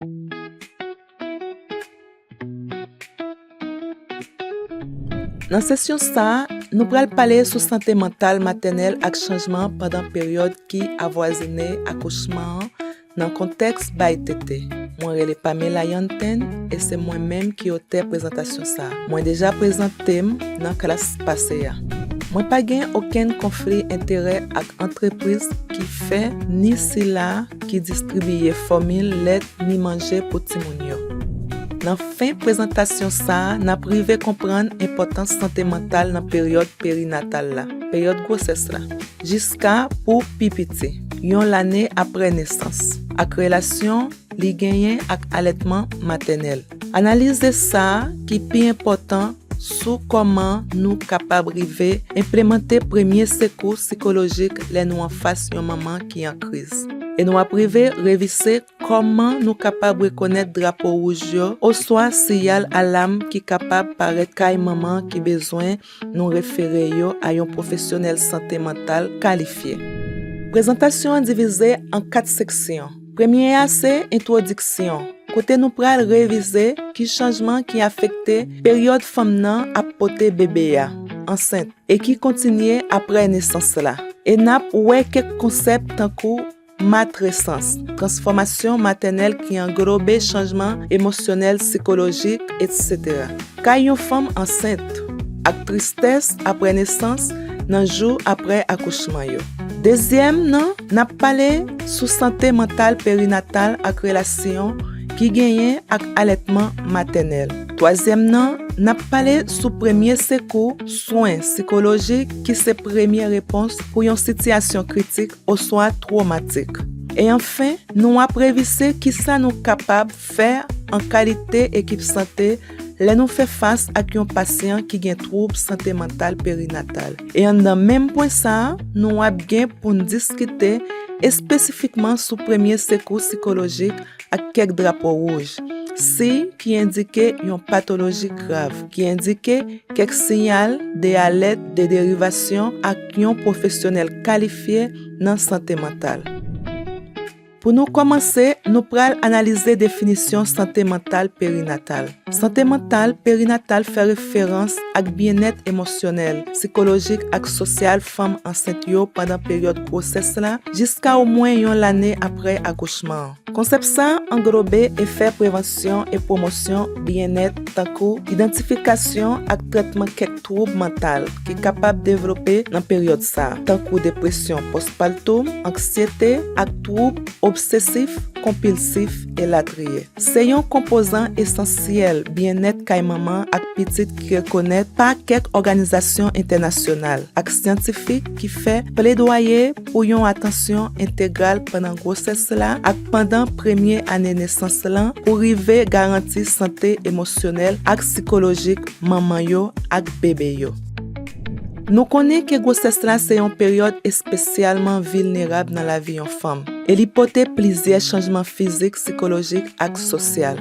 Nan sesyon sa, nou pral pale sou sante mantal matènèl ak chanjman pandan peryòd ki avwazine akouchman an nan kontèks bay tete. Mwen rele Pamela Yanten e se mwen menm ki otè prezantasyon sa. Mwen deja prezante m nan klas pase a. Mwen pa gen okenn konfli enterè ak antrepriz ki fè ni sila ki distribiye fòmil lèt ni manje pou timoun yo. Nan fen prezantasyon sa, n ap rive konprann enpòtans sante mantal nan peryòd perinatal la, peryòd gwosès la, jiska pou pi piti, yon lane apre nesans, ak relasyon li genyen ak alètman matènèl. Analize sa ki pi enpòtan sou kòman nou kapab rive enplemante premye sekou sikolojik lè nou anfas yon manman ki an kriz. E nou ap rive revise kòman nou kapab rekonèt drapo wouj yo oswa siyal alam ki kapab parèt kay manman ki bezwen Nou refere yo a yon pwofesyonèl sante mantal kalifye. Prezantasyon an divize an kat seksyon. Premye a se entwodiksyon, kote nou pral revize ki chanjman ki afekte peryòd fanm nan ap pote bebe a, ansent, e ki kontinye apre nesans la. E n ap wè kèk konsèp tankou. Matresans, transfòmasyon matènèl ki anglobe chanjman emosyonèl, sikolojik, etc. Kay yon fanm ansent, ak tristès apre nesans nan jou apre akouchman yo. Dezyèm nan, n ap pale sou sante mantal perinatal ak relasyon ki genyen ak alètman matènèl. Twazyèm nan, n ap pale sou premye sekou, swen sikolojik ki se premye repons pou yon sitiyasyon kritik oswa twomatik. E anfen, nou ap revise kisa nou kapab fè an kalite ekip sante lè nou fè fas ak yon pasyan ki gen twoub sante mantal perinatal. E anndan menm pwen sa a, nou ap gen pou n diskite espesifikman sou premye sekou sikolojik ak kèk drapo wouj, siy ki endike yon patoloji grav, ki endike kèk siyal de alèt de derivasyon ak. ak yon pwofesyonèl kalifye nan sante mantal. Pou nou kòmanse, nou pral analize definisyon sante mantal perinatal. Sante mantal perinatal fè referans ak byennèt emosyonèl, sikolojik ak sosyal fanm ansent yo pandan peryòd gwosès la jiska omwen yon lane apre akouchman an. Konsèp sa a anglobe efè prevansyon e pwomosyon byennèt tankou idantifikasyon ak trètman kèk twoub mantal ki kapab devlope nan peryòd sa a, tankou depresyon pòspartum, anksyete, ak twoub obsesif konpilsif, elatriye. Se yon konpozan esansyèl byennèt kay manman ak pitit ki rekonèt pa kèk òganizasyon entènasyonal ak syantifik ki fè pledwaye pou yon atansyon entegral pandan gwosès la ak pandan premye ane nesans lan pou rive garanti sante emosyonèl ak sikolojik manman yo ak bebe yo. Nou konnen ke gwosès la se yon peryòd espesyalman vilnerab nan lavi yon fanm, e li pote plizyè chanjman fizik, sikolojik ak sosyal.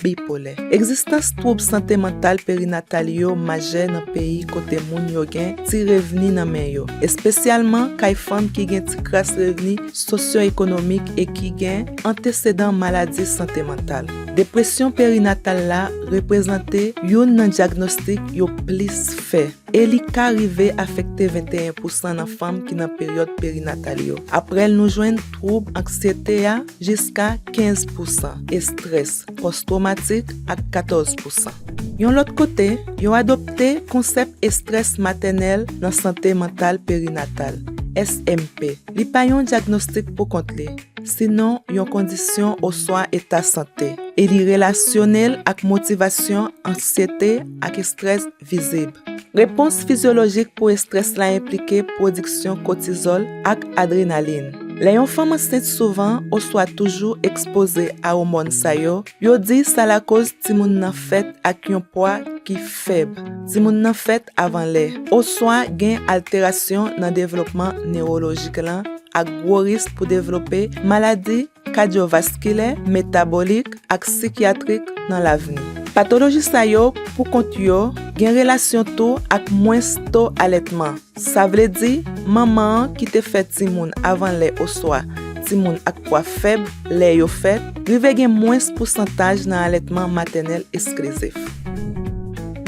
Bipolè. Egzistans twoub sante mantal perinatal yo majè nan peyi kote moun yo gen ti revni nan men yo, espesyalman kay fanm ki gen ti kras revni sosyoekonomik e ki gen antesedan maladi sante mantal. Depresyon perinatal la reprezante youn nan dyagnostik yo plis fè. e li ka rive afekte 21 pousan nan fanm ki nan peryòd perinatal yo. Apre l nou jwenn twoub anksyete a jiska 15 pousan, estrès pòstwomatik ak 14 pousan. Yon lòt kote, yo adopte konsèp estrès matènèl nan sante mantal perinatal, SMP. Li pa yon dyagnostik poukont li, sinon yon kondisyon oswa eta sante, e li relasyone l ak motivasyon, anksyete ak estrès vizib. Repons fizyolojik pou estrès la enplike pwodiksyon kotizòl ak adrenalin. Lè yon fanm ansent souvan oswa toujou ekspoze a òmòn sa yo, yo di sa lakoz timoun nan fèt ak yon pwa ki fèb, timoun nan fèt avan lè, oswa gen alterasyon nan devlopman newolojik lan ak gwo risk pou devlope maladi kadyovaskilè, metabolik ak sikyatrik nan lavni. Patoloji sa yo pou kont yo gen relasyon tou ak mwens to alètman, sa vle di manman an ki te fè timoun avan lè oswa timoun ak pwa fèb lè yo fèt rive gen mwens pousantaj nan alètman matènèl esklizif.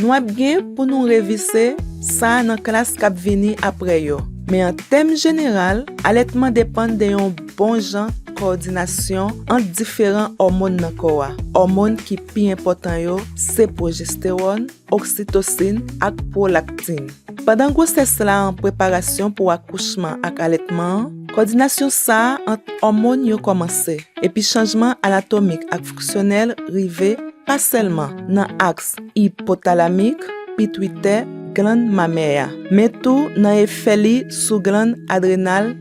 Nou ap gen pou nou revise sa nan klas k ap vini apre yo, men an tèm jeneral alètman depann de yon. bon jan kowòdinasyon ant diferan òmonn nan kò a. Òmonn ki pi enpòtan yo se pwojestewòn, oksitosin ak pwolaktin. Pandan gwosès la an preparasyon pou akouchman ak alètman an, kòdinasyon sa a ant òmonn yo kòmanse, epi chanjman anatomik ak fonksyonèl rive pa sèlman nan aks ipotalamik, pitwitè, glann mamè a, men tou nan efè li sou glann adrenal,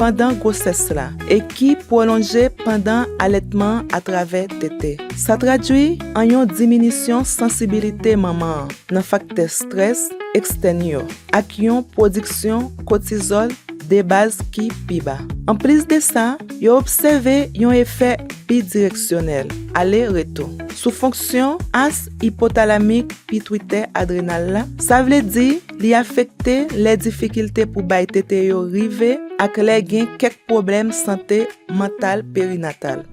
pandan gwosès la e ki pwolonje pandan alètman an atravè tete. Sa tradui an yon diminisyon sansibilite manman an nan faktè strès ekstèn yo ak yon pwodiksyon kotizòl debaz ki pi ba. Anplis de sa, yo obsève yon efè bidireksyonèl, ale retou, sou fonksyon as ipotalamik pitwitè adrenal la, sa vle di, Li afekte lè difikilte pou bay tete yo rive ak lè gen kèk pwoblèm sante mantal perinatal.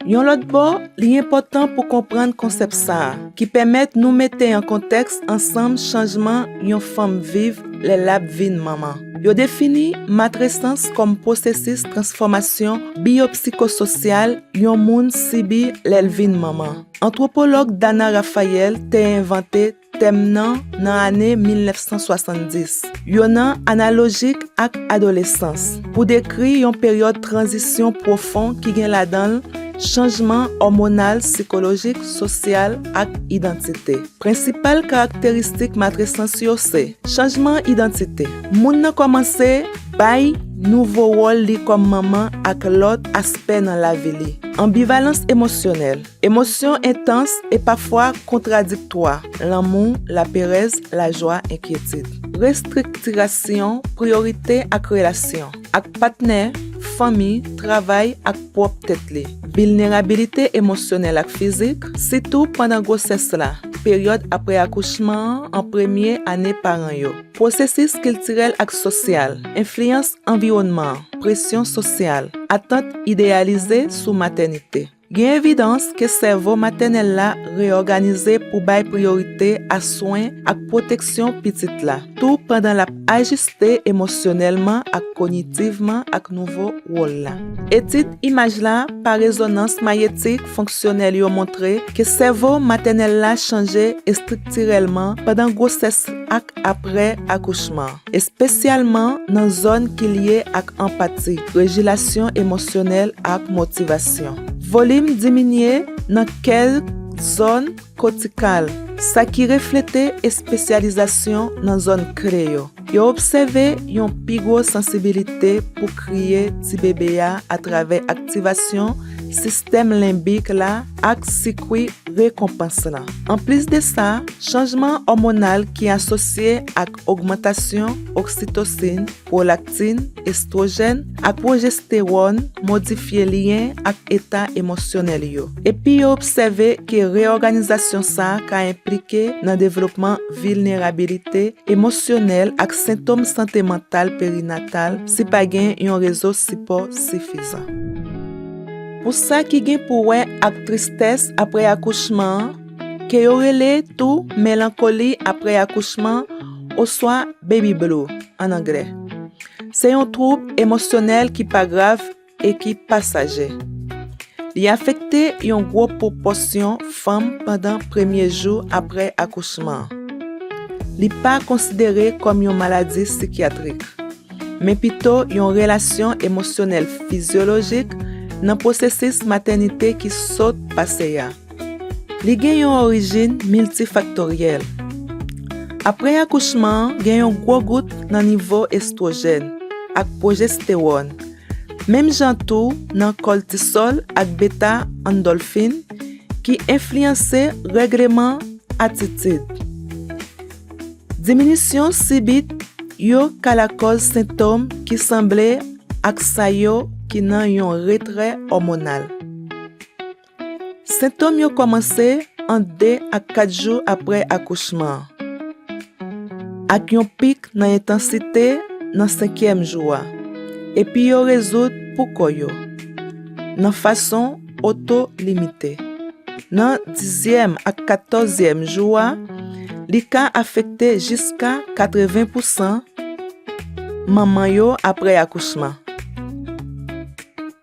Yon lòt bò, li enpòtan pou konprann konsèp sa a, ki pèmèt nou mete an kontèks ansanm chanjman yon fanm viv lè l ap vin manman. Yo defini matresans kòm pwosesis transfòmasyon biyopsikososyal yon moun sibi lè l vin manman. Antwopològ Dana Raphael te envante Tèm nan nan ane 1970. Yo nan analojik ak adolesans pou dekri yon peryòd tranzisyon pwofon ki gen ladan l chanjman òmonal, sikolojik, sosyal ak idantite. Prensipal karakteristik matresans yo se. Chanjman idantite. Moun nan kòmanse bay nouvo wòl li kòm manman ak lòt aspè nan lavi li. Anbivalans emosyonèl. Emosyon entans e pafwa kontradiktwa, lanmou, laperèz, lajwa, enkyetid. Restriktirasyon priyorite ak relasyon, ak patnè, fanmi, travay, ak pwòp tèt li. Vilnerabilite emosyonèl ak fizik, sitou pandan gwosès la, peryòd apre akouchman an, an premye ane paran yo. Pwosesis kiltirèl ak sosyal, enfliyans anviwònman, presyon sosyal, atant ideyalize sou matènite. Gen evidans ke sèvo matènèl la reyòganize pou bay priyorite a swen ak pwoteksyon pitit la, tou pandan l ap ajiste emosyonèlman ak kognitivman ak nouvo wòl la. Etid imaj la pa rezonans mayetik fonksyonèl yo montre ke sèvo matènèl la chanje estriktirèlman pandan gwosès ak apre akouchman. espesyalman nan zòn ki lye ak anpati, regilasyon emosyonèl ak motivasyon. Volim diminye nan kèlk zòn kotikal, sa ki reflete espesyalizasyon nan zòn kle yo. Yo obsève yon pi gwo sansibilite pou kriye tibebe a atravè aktivasyon sistèm lenbik la ak sikwi rekonpans lan. Anplis de sa, chanjman òmonal ki asosye ak. ogmantasyon oksitosin, pwolaktin, estwojèn, ak pwojestewòn modifye lyen ak eta emosyonèl yo. Epi yo obsève ke reyòganizasyon sa a ka enplike nan devlopman vilnerabilite emosyonèl ak sentom sante mantal perinatal si pa gen yon rezo sipò sifizan. Pou sa ki gen pou wè ak tristès apre akouchman an, ke yo rele tou melankoli apre akouchman oswa baby blue an anglè. Se yon twoub emosyonèl ki pa grav e ki pasaje. Li afekte yon gwo pwopòsyon fanm pandan premye jou apre akouchman. Li pa konsidere kòm yon maladi sikyatrik, men pito yon relasyon emosyonèl fizyolojik nan pwosesis matènite ki sot pase a. Li gen yon orijin miltifaktoryèl. Apre akouchman an, gen yon gwo gout nan nivo estwojèn ak pwojestewòn, menm jan tou nan kòltisòl ak beta andòlfin ki enfliyanse règleman atitid. Diminisyon sibit yo ka lakòz sentòm ki sanble ak sa yo ki nan yon retrè òmonal. Sentòm yo kòmanse ant 2 ak 4 jou apre akouchman an, ak yon pik nan entansite nan senkyèm jou a, epi yo rezoud poukò yo nan fason oto-limite. Nan dizyèm ak katòzyèm jou a, li ka afekte jiska 80 pousan manman yo apre akouchman.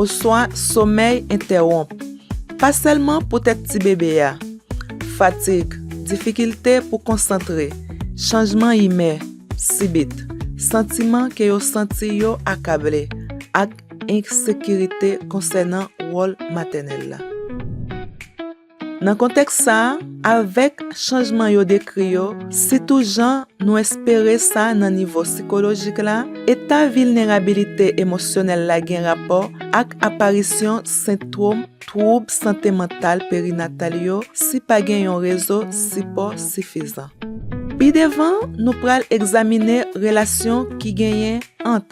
oswa somèy entèwonp, pa sèlman poutèt tibebe a. Fatig, difikilte pou konsantre, chanjman imè sibit, santiman ke yo santi yo akable, ak ensekirite konsènan wòl matènèl la. Nan kontèks sa a, avèk chanjman yo dekri yo, sitou jan nou espere sa nan nivo sikolojik la, eta vilnerabilite emosyonèl la gen rapò ak aparisyon sentwom twoub sante mantal perinatal yo si pa gen yon rezo sipò sifizan. Pi devan, nou pral egzamine relasyon ki genyen ant.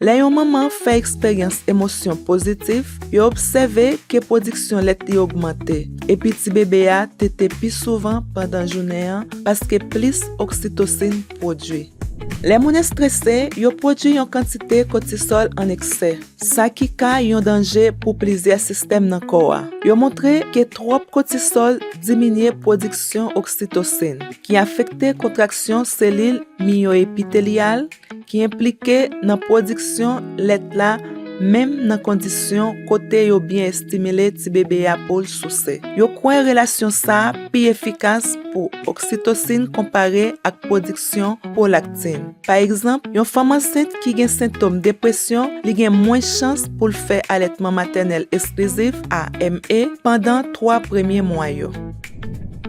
Lè yon manman fè eksperyans emosyon pozitif, yo obsève ke pwodiksyon lèt li ogmante, epi tibebe a tete pi souvan pandan jounen an paske plis oksitosin pwodui. Lè moun estrese, yo pwodui yon kantite kotisòl an eksè, sa ki ka yon danje pou plizyè sistèm nan kò a. Yo montre ke twòp kotisòl diminye pwodiksyon oksitosin, ki afekte kontraksyon selil miyoepitelyal, ki enplike nan pwodiksyon lèt la menm nan kondisyon kote yo byen estimile ti bebe a pou l souse. Yo kwè relasyon sa a pi efikas pou oksitosin konpare ak pwodiksyon pwolaktin. Pa egzanp, yon fanm ansent ki gen sentom depresyon li gen mwens chans pou l fè alètman matènèl esklizif, AME, pandan twa premye mwa yo.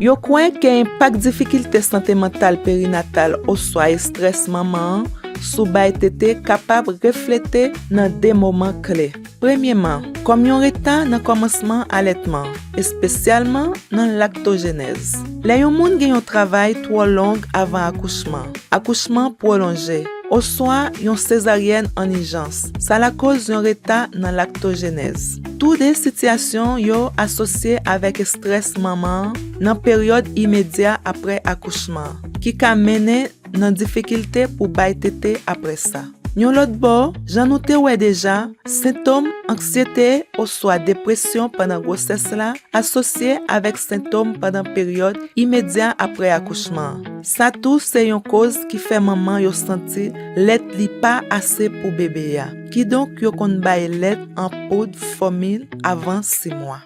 Yo kwè ke enpak difikilte sante mantal perinatal oswa estrès manman an sou bay tete kapab reflete nan de moman kle. Premyeman, kòm yon reta nan kòmansman alètman, espesyalman nan laktojenèz. Lè yon moun gen yon travay twò long avan akouchman, akouchman pwolonje, oswa yon sezaryèn an ijans, sa lakoz yon reta nan laktojenèz. Tou de sitiyasyon yo asosye avèk estrès manman an nan peryòd imedya apre akouchman an, ki ka mennen nan difikilte pou bay tete apre sa. Yon lòt bò, jan nou te wè deja, sentom anksyete oswa depresyon pandan gwosès la asosye avèk sentom pandan peryòd imedya apre akouchman an. Sa tou se yon koz ki fè manman yo santi lèt li pa ase pou bebe a. Kidonk yo konn bay lèt an poud fòmil avan 6 mwa.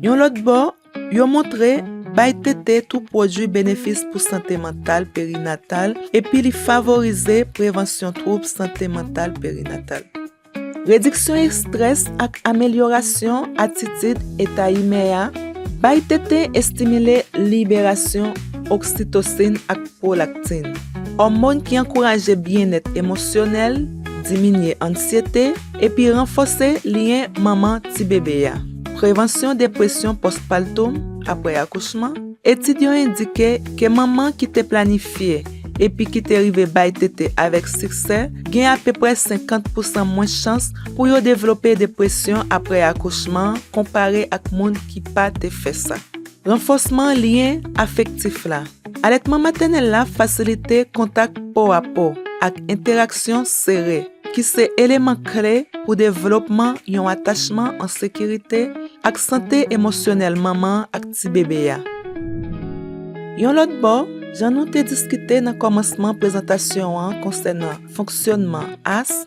Yon lòt bò, yo montre bay tete tou pwodui benefis pou sante mantal perinatal epi li favorize prevansyon twoub sante mantal perinatal. Rediksyon estrès ak amelyorasyon atitid eta imè a, Bay tete estimile liberasyon oksitosin ak Prolaktin, òmon ki ankouraje byennèt emosyonèl, diminye anksyete, epi ranfòse lyen manman tibebe a. Prevansyon depresyon pòspatom, apre akouchman, Etid yo endike ke manman ki te planifye epi ki te rive bay tete avèk siksè gen apeprè 50 pousan mwens chans pou yo devlope depresyon apre akouchman konpare ak moun ki pa te fè sa. Ranfòsman lyen afektif la. Alètman matènèl la fasilite kontak po a po ak entèraksyon sere, ki se eleman kle pou devlopman yon atachman an sekirite ak sante emosyonèl manman an ak tibebe a. Yon lòt bò, jan nou te diskite nan kòmansman prezantasyon an konsènan fonksyònman as,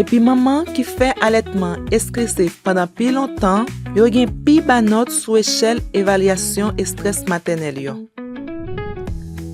Epi manman ki fè alètman estrese pandan pi lontan yo gen pi ba nòt sou echèl evalyasyon estrès matènèl yo.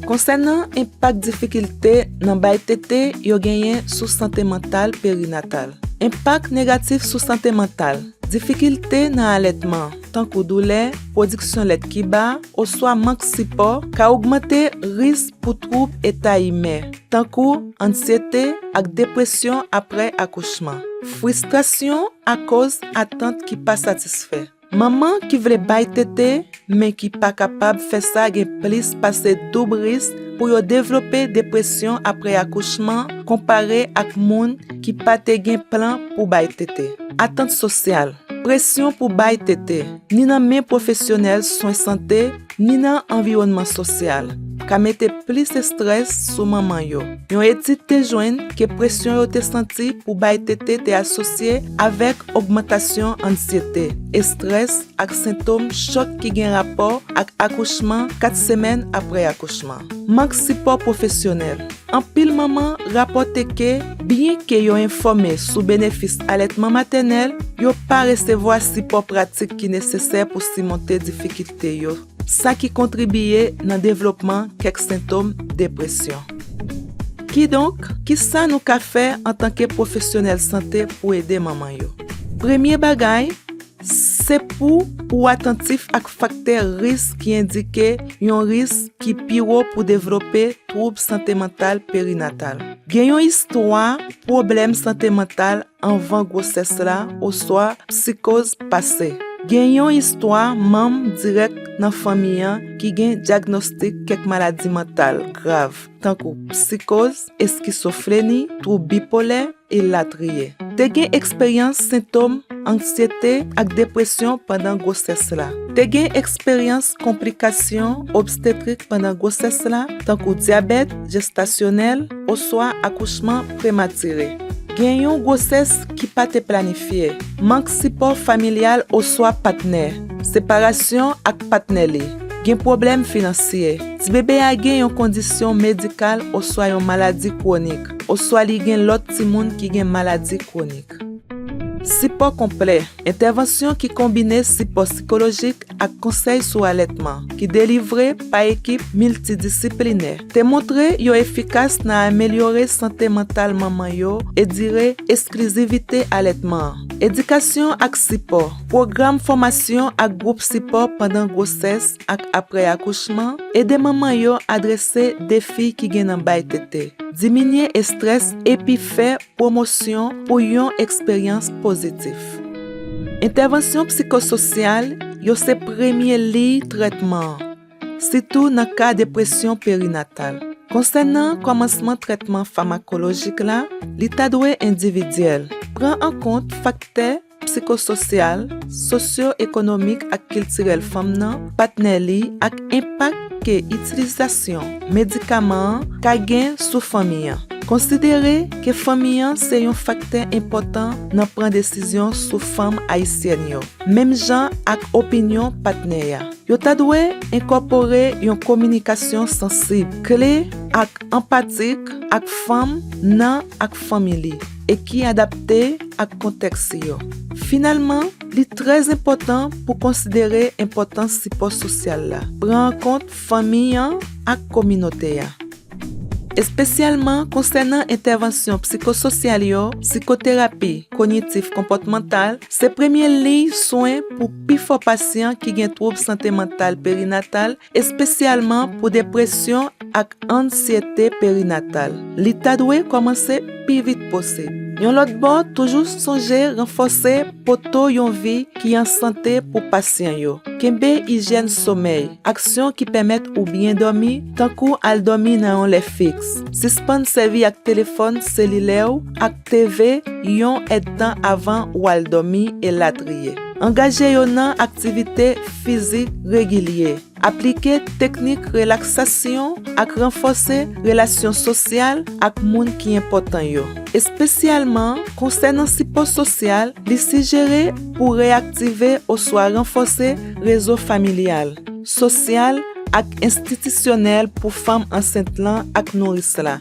Konsènan enpak difikilte nan bay tete yo genyen sou sante mantal perinatal. Enpak negatif sou sante mantal, Difikilte nan alètman, tankou doulè, pwodiksyon lèt ki ba, oswa mank sipò, ka ogmante risk pou twoub eta imè. tankou ansyete ak depresyon apre akouchman, fristrasyon akoz atant ki pa satisfè. Manman ki vle bay tete men ki pa kapab fè sa gen plis pase doub risk pou yo devlope depresyon apre akouchman konpare ak moun ki pa te gen plan pou bay tete. Atant sosyal, presyon pou bay tete, ni nan men pwofesyonèl swen sante ni nan anviwònman sosyal, ka mete plis estrès sou manman yo. Yon etid te jwenn ke presyon yo te santi pou bay tete te asosye avèk ogmantasyon andsyete, estrès ak sentom chòk ki gen rapò ak akouchman 4 semèn apre akouchman. Mank sipò pwofesyonèl. Anpil manman rapòte ke byenke yo enfòme sou benefis alètman matènèl, yo pa resevwa sipò pratik ki nesesè pou simonte difikite. te yo, sa ki kontribiye nan devlopman kèk sentom depresyon. Kidonk, kisa nou ka fè antanke pwofesyonèl sante pou ede manman yo? Premye bagay, se pou ou atantif ak faktè risk ki endike yon risk ki pi wo pou devlope twoub sante mantal perinatal. Gen yon istwa pwoblèm sante mantal anvan gwosès la oswa psikoz pase. Gen yon istwa manm dirèk nan fanmi an ki gen dyagnostik kèk maladi mantal grav, tankou psikoz, eskisofreni, twoub bipolè, elatriye. Te gen eksperyans sentom anksyete ak depresyon pandan gwosès la. Te gen eksperyans konplikasyon obstetrik pandan gwosès la, tankou dyabèt jestasyonèl oswa akouchman prematire. Gen yon gwosès ki pa te planifye. Mank sipò familyal oswa patnè. Separasyon ak patnè li. Gen pwoblèm finansye. Tibebe a gen yon kondisyon medikal oswa yon maladi kwonik, oswa li gen lòt timoun ki gen maladi kwonik. Sipò konplè. Entèvansyon ki konbine sipò sikolojik ak konsèy sou alètman, ki delivre pa ekip miltidisiplinè, te montre yo efikas nan amelyore sante mantal manman yo e dire esklizivite alètman an. Edikasyon ak sipò, pwogram fòmasyon ak gwoup sipò pandan gwosès ak apre akouchman ede manman yo adrese defi ki gen nan bay tete, diminye estrès epi fè Pwomosyon pou yon eksperyans pozitif. Entèvansyon psikososyal yo se premye liy trètman an, sitou nan ka depresyon perinatal. Konsènan kòmansman trètman famakolojik la, li ta dwe endividyèl, pran an kont faktè psikososyal, sosyo-ekonomik ak kiltirèl fanm nan, patnè li, ak enpak ke itilizasyon medikaman an ka gen sou fanmi an. Konsidere ke fanmi an se yon faktè enpòtan nan pran desizyon sou fanm ayisyèn yo, menm jan ak opinyon patnè a. Yo ta dwe enkòpore yon kominikasyon sansib, kle, ak anpatik ak fanm nan ak fanmi li. e ki adapte ak kontèks yo. Finalman, li trè enpòtan pou konsidere enpòtans sipò sosyal la pran an kont fanmi an ak kominote a, espesyalman konsènan entèvansyon psikososyal yo. Psikoterapi konyitif-konpòtmantal se premye liy swen pou pifò pasyan ki gen twoub sante mantal perinatal espesyalman pou depresyon ak ansyete perinatal, li ta dwe kòmanse pi vit posib. Yon lòt bò, toujou sonje ranfòse poto yon vi ki an sante pou pasyan yo. Kenbe ijyèn somèy, aksyon ki pèmèt ou byen dòmi, tankou al dòmi nan yon lè fiks, sispann sèvi ak telefòn selilè ou ak. TV, yon èdtan avan ou al dòmi, elatriye. Angaje yo nan aktivite fizik regilye. Aplike teknik relaksasyon ak ranfòse relasyon sosyal ak moun ki enpòtan yo. Espesyalman, konsènan sipò sosyal, li sijere pou reyaktive oswa ranfòse rezo familyal, sosyal ak enstitisyonèl pou fanm ansent lan ak nouris la.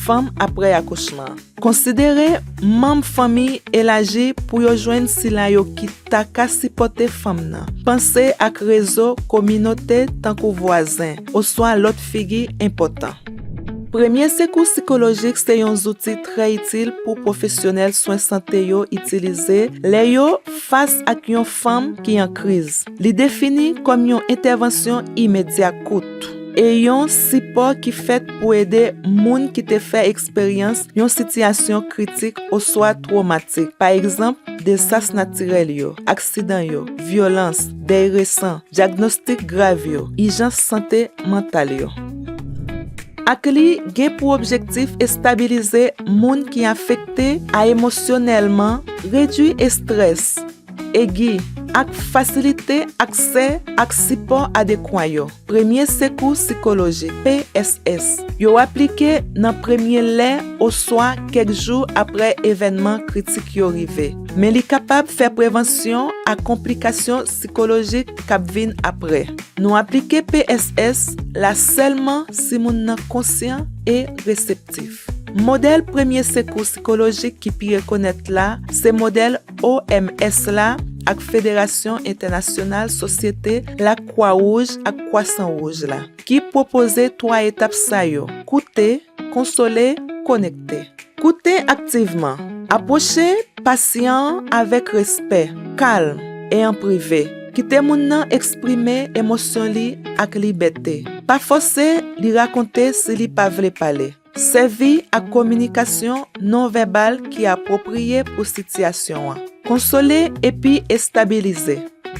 Fanm apre akouchman. Konsidere manm fanmi elaji pou yo jwenn sila yo ki ta ka sipòte fanm nan. Panse ak rezo kominote tankou vwazen oswa lòt figi enpòtan. Premye sekou sikolojik se yon zouti trè itil pou pwofesyonèl swen sante yo itilize lè yo fas ak yon fanm ki an kriz. Li defini kòm yon entèvansyon imedya kout. e yon sipò ki fèt pou ede moun ki te fè eksperyans yon sitiyasyon kritik oswa twomatik, pa egzanp, desas natirèl yo, aksidan yo, vyolans, dèy resan, dyagnostik grav yo, ijans sante mantal yo. Ak li gen pou objektif estabilize moun ki afekte a emosyonèlman, redui estrès, Egi, ak fasilite aksè ak sipò adekwa yo, Premye Sekou Sikolojik, PSS, yo aplike nan premye lè oswa kèk jou apre evènman kritik yo rive, men li kapab fè prevansyon a konplikasyon sikolojik k ap vin apre. Nou aplike PSS la sèlman si moun nan konsyan e reseptif. Modèl Premye Sekou Sikolojik ki pi rekonèt la se modèl OMS la ak Federasyon Entènasyonal Sosyete Lakwa Wouj ak Kwasan Wouj la, ki pwopoze twa etap sa yo, Koute, Konsole, Konekte. Koute aktivman. Apwoche pasyan an avèk respè, kalm, e an prive. Kite moun nan eksprime emosyon li ak libète. Pa fòse li rakonte si li pa vle pale. Sèvi ak kominikasyon nonvèbal ki apwopriye pou sitiyasyon an. Konsole epi estabilize.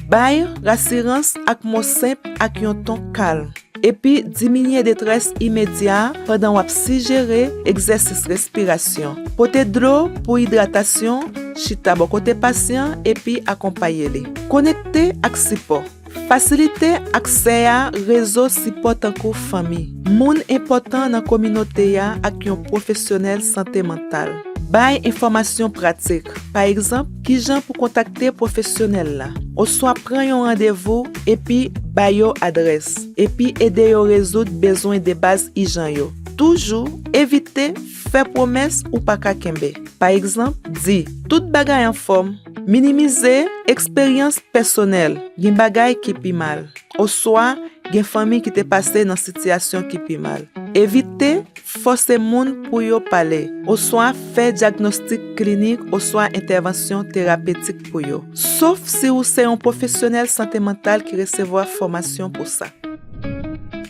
Bay rasirans ak mo senp ak yon ton kalm, epi diminye detrès imedya a pandan w ap sijere egzèsis respirasyon. Pote dlo pou idratasyon, chita bò kote pasyan epi akonpaye li. Konekte ak sipò. Fasilite aksè a rezo sipò tankou fanmi, moun enpòtan nan kominote a ak yon pwofesyonèl sante mantal. Bay enfòmasyon pratik, pa egzanp, kijan pou kontakte pwofesyonèl la, oswa pran yon randevou, epi ba yo adrès, epi ede yo rezoud bezwen debaz ijan yo. Toujou evite fè pwomès ou pa ka kenbe. Pa egzanp, di, Tout bagay anfòm. Minimize eksperyans pèsonèl, gen bagay ki pi mal, oswa gen fanmi ki te pase nan sitiyasyon ki pi mal. Evite fòse moun pou yo pale oswa fè dyagnostik klinik oswa entèvansyon terapetik pou yo, sof si ou se yon pwofesyonèl sante mantal ki resevwa fòmasyon pou sa.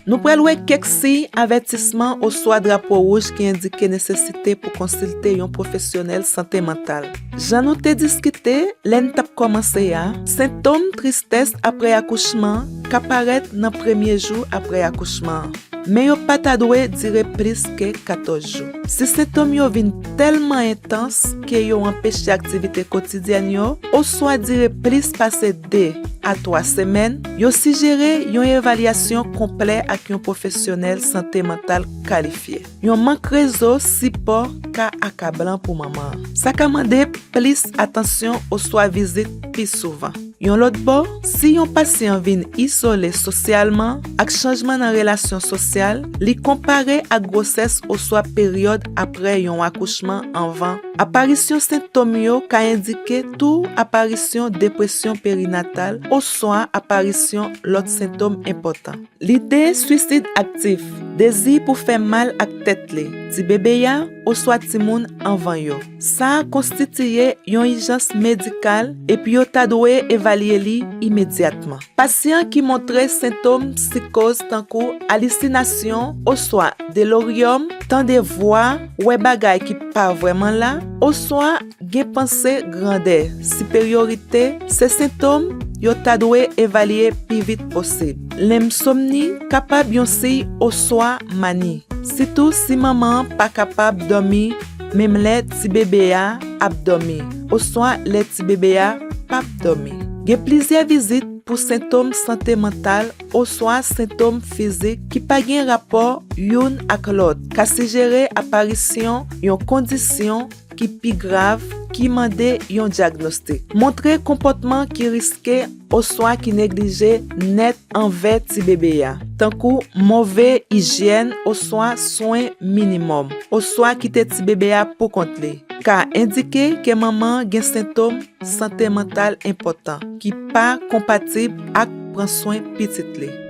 Nou pral wè kèk siy avètisman oswa drapo wouj ki endike nesesite pou konsilte yon pwofesyonèl sante mantal. Jan nou te diskite lè n t ap kòmanse a, sentom tristès apre akouchman ka parèt nan premye jou apre akouchman an, men yo pa ta dwe dire plis ke 14 jou. Si sentom yo vin tèlman entans ke yo anpeche aktivite kotidyèn yo oswa dire plis pase 2 a 3 semèn, yo sijere yon evalyasyon konplè ak yon pwofesyonèl sante mantal kalifye. Yon mank rezo sipò ka akablan pou manman an. Sa ka mande plis atansyon oswa vizit pi souvan. Yon lòt bò, si yon pasyan vin izole sosyalman ak chanjman nan relasyon sosyal li konpare ak gwosès oswa peryòd apre yon akouchman anvan, aparisyon sentom yo ka endike tou aparisyon depresyon perinatal oswa aparisyon lòt sentom enpòtan. Lide suisid aktif, dezi pou fè mal ak tèt li, tibebe a, oswa timoun anvan yo. Sa a konstitiye yon ijans medikal epi yo ta dwe evalye li imedyatman. Pasyan ki montre sentom psikoz tankou alisinasyon oswa deloryòm, tande vwa, wè bagay ki pa vrèman la, oswa Gen panse grandè, siperyorite, se sentom yo ta dwe evalye pi vit posib. Lensomni kapab yon siy oswa mani, sitou si manman an pa kapab dòmi menm lè tibebe a ap dòmi oswa lè tibebe a pap dòmi. Gen plizyè vizit pou sentom sante mantal oswa sentom fizik ki pa gen rapò youn ak lòt ka sijere aparisyon yon kondisyon ki pi grav ki mande yon dyagnostik. Montre konpòtman ki riske oswa ki neglije nèt anvè tibebe a, tankou move ijyèn oswa swen minimòm, oswa kite tibebe a poukont li, ka endike ke manman an gen sentom sante mantal enpòtan ki pa konpatib ak pran swen pitit li.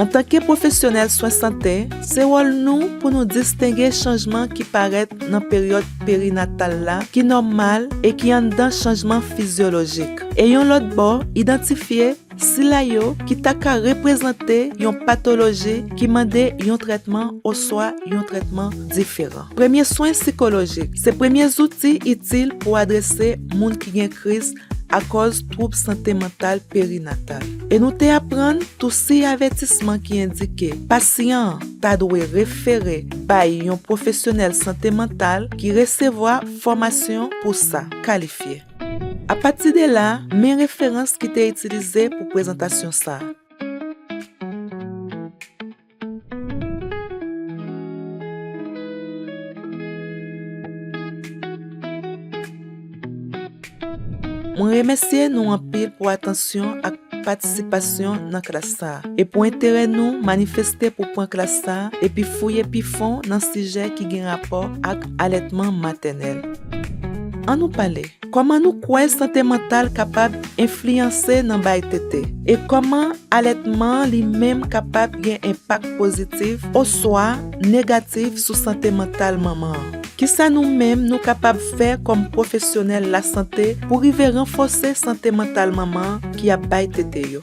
Antanke pwofesyonèl swen sante, se wòl nou pou nou distenge chanjman ki parèt nan peryòd perinatal la ki nòmal e ki anndan chanjman fizyolojik, e yon lòt bò, idantifye sila yo ki ta ka reprezante yon patoloji ki mande yon trètman oswa yon trètman diferan. Premye swen sikolojik se premye zouti itil pou adrese moun ki gen kriz akòz twoub sante mantal perinatal. E nou te aprann tou siy avètisman ki endike pasyan an ta dwe refere bay yon pwofesyonèl sante mantal ki resevwa fòmasyon pou sa, kalifye. Apati de la, men referans ki te itilize pou prezantasyon sa a. Mwen remèsye nou anpil pou atansyon ak patisipasyon nan klas sa a e pou enterè nou manifeste pou pran klas sa a epi fouye pi fon nan sijè ki gen rapò ak alètman matènèl. An nou pale! Kòman nou kwè sante mantal kapab enfliyanse nan bay tete? E kòman alètman an li menm kapab gen enpak pozitif oswa negatif sou sante mantal manman an? Kisa nou menm nou kapab fè kòm pwofesyonèl lasante pou rive ranfòse sante mantal manman ki ap bay tete yo?